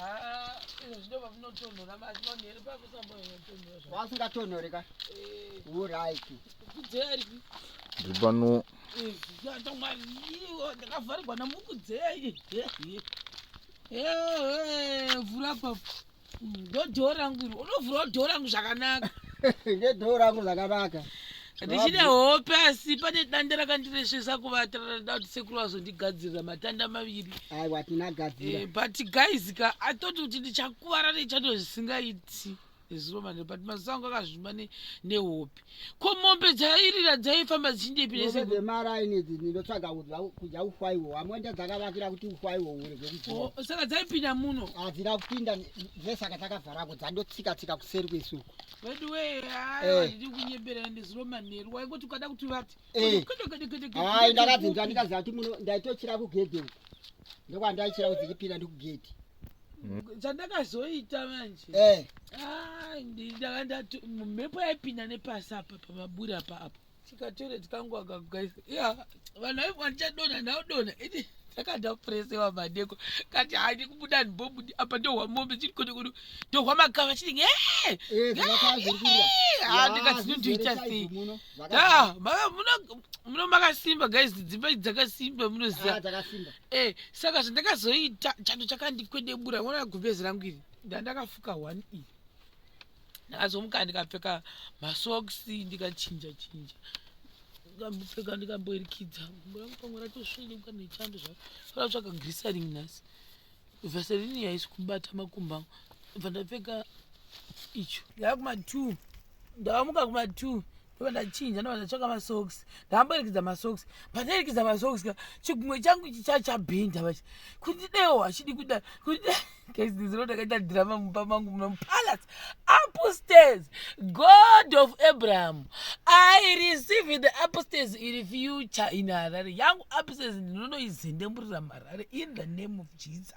Ah, izvo zvinova zvinotonhora manje manhere pakusamba inotonhora zva- wasingatonhore ka Eh, uraiki kudzeri Ndiri pano yatamwaiwo ndakavharigwa namukudzei vhura papo ndodhoo rangu iri unovhurawo dhoo rangu zvakanaka ngedhoo rangu zvakanaka ndichine hope asi pane danda rakandiresvesa kuvata rada kuti sekuru vazondigadzirira matanda maviri aiwa tinagadzira eh, but guys ka atoti kuti ndichakuvara nechando zvisingaiti zuro manje but mazuva angu akazvimba nehope ko mombe dzairira dzaifamba dzichindepi nesemaraini idzi ndinotsvaga kudya ufwaiwo amwenda dzakavakira kuti ufwaiwo oh, saka dzaipinda muno hadzina kupinda zvesaka dzakavharako dzandotsika tsika kuseri kwesuku veduwee handidi kunyembera ende zuro manheru waingoti ukada kuti vati hai ndakabvinza ndikaziva kuti muno ndaitochira kugedhe uku ndokwandaichira kudzikipinda ndikugedhe chandakazoita manje mhepo yaipinda nepasi apa pamaburi apa apo chikatore tikangu akakugaisa ya vanhu vaivo vandichadona ndaudona iti takada kupresewa madeko kati handi kubuda ndibobudi apa ndohwa mombe chiri kode kudu ndohwa makava chiri ndikatinotoita sei muno makasimba guys dzimba idzi dzakasimba munoziva ah, e eh, saka zvandakazoita chando chakandikwedebura ona gumbezi rangu iri ndandakafuka one iri ndakazomuka ndikapfeka masokisi ndikachinja chinja ndikambopfeka ndikamboirikidza gumbo rangu pamwe ratosvenyuka nechando zvaro ratsvaka grisaring nhasi vaserini yaisi kubata makumba angu bva ndapfeka icho ndava kuma two ndavamuka kuma two ndobva ndachinja ndobva ndatsvaka masocks ndakamboerekidza masocks pandaerekidza masocks ka chigumwe changu chichachabhinda vachi kuti deo hachidi kuda kuti kaiziziro ndakaita drama mumba mangu muno mupalace upstairs god of abraham i receive the upstairs iri future in harare yangu upstairs ndinonoizendemurira muharare in the name of jesus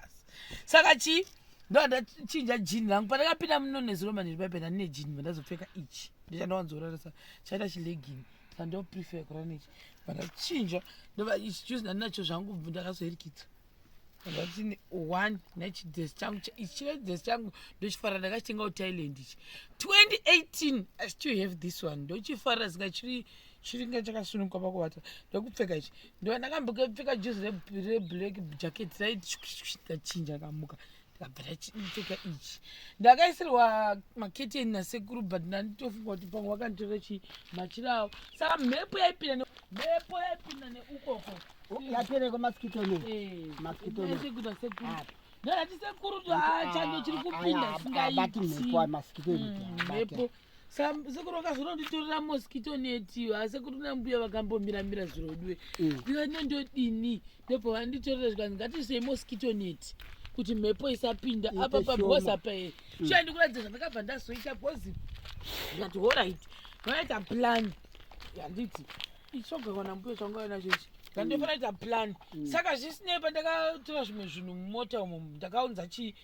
saka chii ndovandachinja jini rangu pandakapinda muno nezuro maniri paipenda ndine jini vandazopfeka ichi ndichanda wanzorarisa chaita chilegini sandoprefer kurara nechi vakachinja ndovaischuzi ndandinacho zvangu bvu ndakazoerikidza ndakatini one nechidhes changu chive dhes changu ndochifarira ndakachitenga uthailand ichi 2018 i still have this one ndochifarira zinga chiri chiringa chakasununguka pakuvata ndokupfeka ichi ndova ndakambokepfeka juzi reblack jacket raiti ndachinja kamuka ndakabvira chipfeka ichi ndakaisirwa maketeni nasekuru but ndanditofunga kuti pamwe wakanditora chii machira awo saka mhepo yaipinda ne- mhepo yaipinda neukoko yatereko masikito ne Eh, Masikito ne- ndaiise kuita sekuru Ah. ndakati sekuru tu haa chando chiri kupinda abati singaiti mhepo masikito Mm, inoti mhepo Sam- sekuru vakazononditorera mosquito netiyo asi sekuru nambuya vakambomiramira zvirodiwe Mm. ndikati nondodini ndipo vanditorera zvikanzi ngatiisei mosquito net kuti mhepo isapinda apa pabhoza pae mm. chiya ndikuratidza zvandakabva ndazoita bhozi ndikati horit vanoita plan yanditi ichogawana mbuyo changava nacho ichi ndandofanira mm. kuita plan mm. saka zvisinei pandakatora zvimwe zvinhu mumota umo ndakaunza chii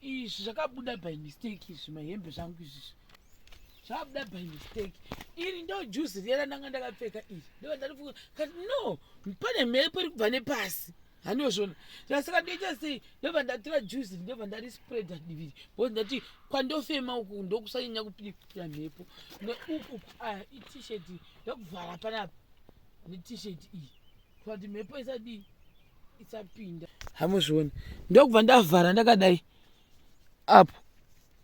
izvi zvakabuda by mistake izvi mahembe zvangu izvizvi zvabuda by mistake iri ndo juzi riya randanga ndakapfeka iri ndovandarifuka kati no pane mhepo iri kubva nepasi hanozvona saka ndoita sei ndobva ndatora juzi ndobva ndarispreada diviri bcause ndati kwandofema uku ndokusanyanya kupinda mhepo neuku aya itishet ndokuvhara panapa netishet iyi kuti mhepo isadii isapinda hamuzvioni ndokubva ndavhara ndakadai apo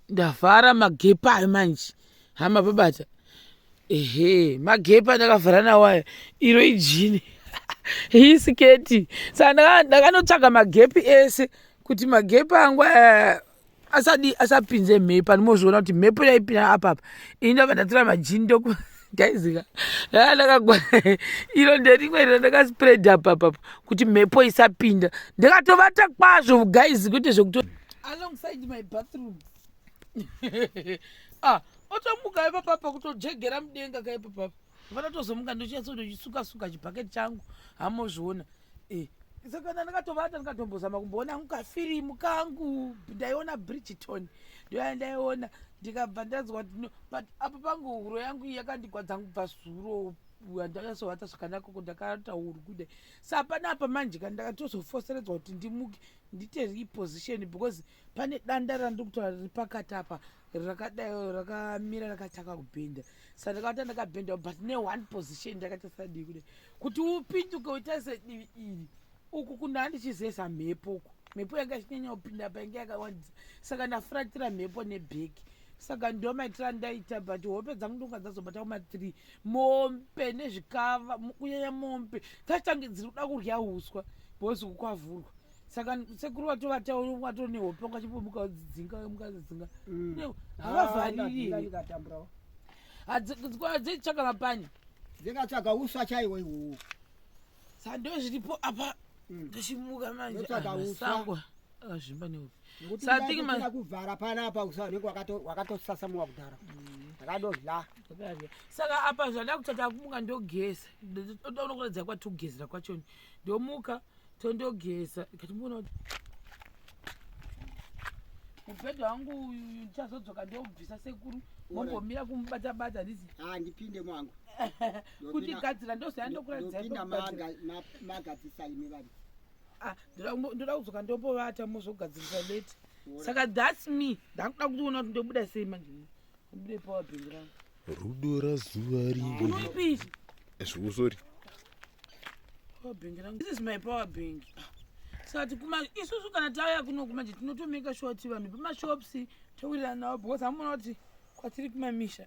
ndavhara magepa ayo manje hama babata ehe magepa ndakavhara nawo ayo iro ijini iyi siketi saka ndaka- ndakanotsvaga magepi ese kuti magepi angu aya asadi asapinze mhepo andimozviona kuti mhepo yaipinda apapa ini ndabva ndatora majini ndoku guys ka ah, ndakagwa iro nderimwe iro ndakaspread apa apa kuti mhepo isapinda ndakatovata kwazvo guys kwete zvekuto alongside my bathroom ah otomuka ipapapa kutojegera mudenga ka ipapapa vanotozomuka ndochinyatsotochisuka suka chibhaketi changu hamozviona eh saka ndandakatovata ndikatombozama kumboona angu kafirimu kangu ndaiona bridgeton ndoyandaiona ndikabva ndanzwa kuti but apo pangu huro yangu yakandigwadza kubva zuro handakasovata zvakanaka ko ndakaata huru kudai sa hapana apa manje ka ndakatozofoseredzwa kuti ndimuke ndite reposition because pane danda randiri kutaura riri pakati apa rakadai rakamira rakatanga kubhenda sa ndakavata ndakabhenda but ne one position ndakatasadii kudai kuti upinduke utarise divi iri uku kunda handichizesa mhepo uku mhepo yanga ichinyanya kupinda painge yakawandisa saka ndafratira mhepo nebheki saka ndo maitira ndaita but hope dzangu ndonga dzazobata kumathree mombe nezvikava kunyanya mombe dzaitange dziri kuda kurya uswa bhozi kukwavhurwa saka sekuru watovatawato nehope ungachipomuka udzidzinga mukadzidzinga mm. havavhariri ah, dzitsvaka mapani dzikatsvaga uswa chaiwo iwowo sando zviripo apa Mm. toshimuka manje Ndotsvaga Ah, uswa. masango akazvimba neupi Ngokuti So I kudai think ma- kutoda kuvhara panapa usa unenge wakato- wakatosasamuka kudhara ndakadodla Zvakadya. saka apa zvada kutata kumuka ndogeza ndoda unokuratidza kwatogezera kwachoni ndomuka tondogeza ikatimbona kuti mubhedha wangu uyu uyu ndichazodzoka ndobvisa sekuru mombomira kumubatabata ndizi handipinde mwangu kuti gadzira ndozaya ndokuratidzaimagadzisa imi vari ah, ndoda kudzoka ndopovata mozogadzirisa late saka thats me ndakuda kutiona kuti ndobuda sei manje ndobuda ipower bhingi rangu rudo razuva riipi zviusori power bhingi rangu this is my power bhingi sati kuma isusu kana tauya kuno kumanje tinotomeka shoti vanhu pamashops tauriranawo because amuona kuti kwatiri kumamisha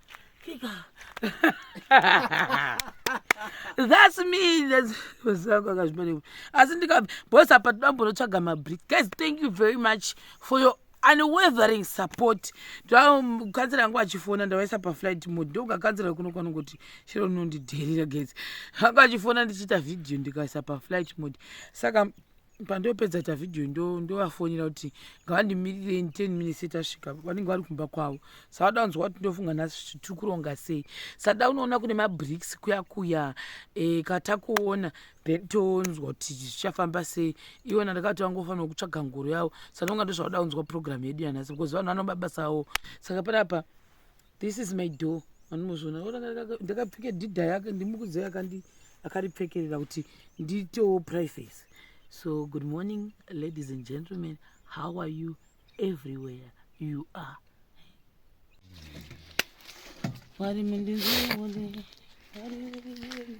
thats me thasvako akazvimaneko asi ndikabva bos apa toda mbonotsvaga mabrik guys thank you very much for your unweathering support ndokansera yangu achifona ndavaisa paflight mode ndokakanzera kuno kwanongoti chero nondidherira guys anga achifona ndichiita vhidhiyo ndikaisa paflight mode saka pandopedza ta video ndo ndovafonera kuti ngavandimirirei 10 minutes tasvika vanenge vari kumba kwavo savada kunzwa kuti ndofunga nhasi tiri kuronga sei sada unoona kune mabricks kuya kuya e, katakuona then tonzwa kuti zvichafamba sei iwona ndakati vangofanira kutsvaga ngoro yavo sanonga ndozvauda kunzwa program yedu yanhasi because vanhu vanoba basa avo saka panapa This is my door. Vanozviona ndakapfeka dhidha yake ndimukudzi yakandi akaripfekerera kuti ndiitewo privacy. So good morning ladies and gentlemen. How are you everywhere you are? Wari mundinzivole. Wari mundinzivole.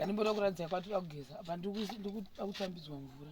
Ndimboda kuratidza kwatira kugeza. Apa ndikutambidzwa mvura.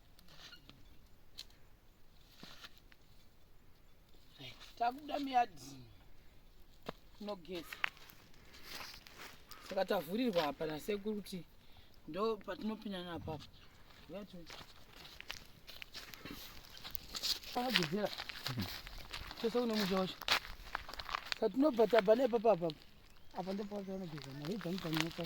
takubuda miyadhi tinogeza saka tavhurirwa apa nasekuru kuti ndo patinopinana apapo akagezera chose kune musha wacho patinobva tabva nepapa apapo apa ndopaaanogeza mari dzangu dzanyokwa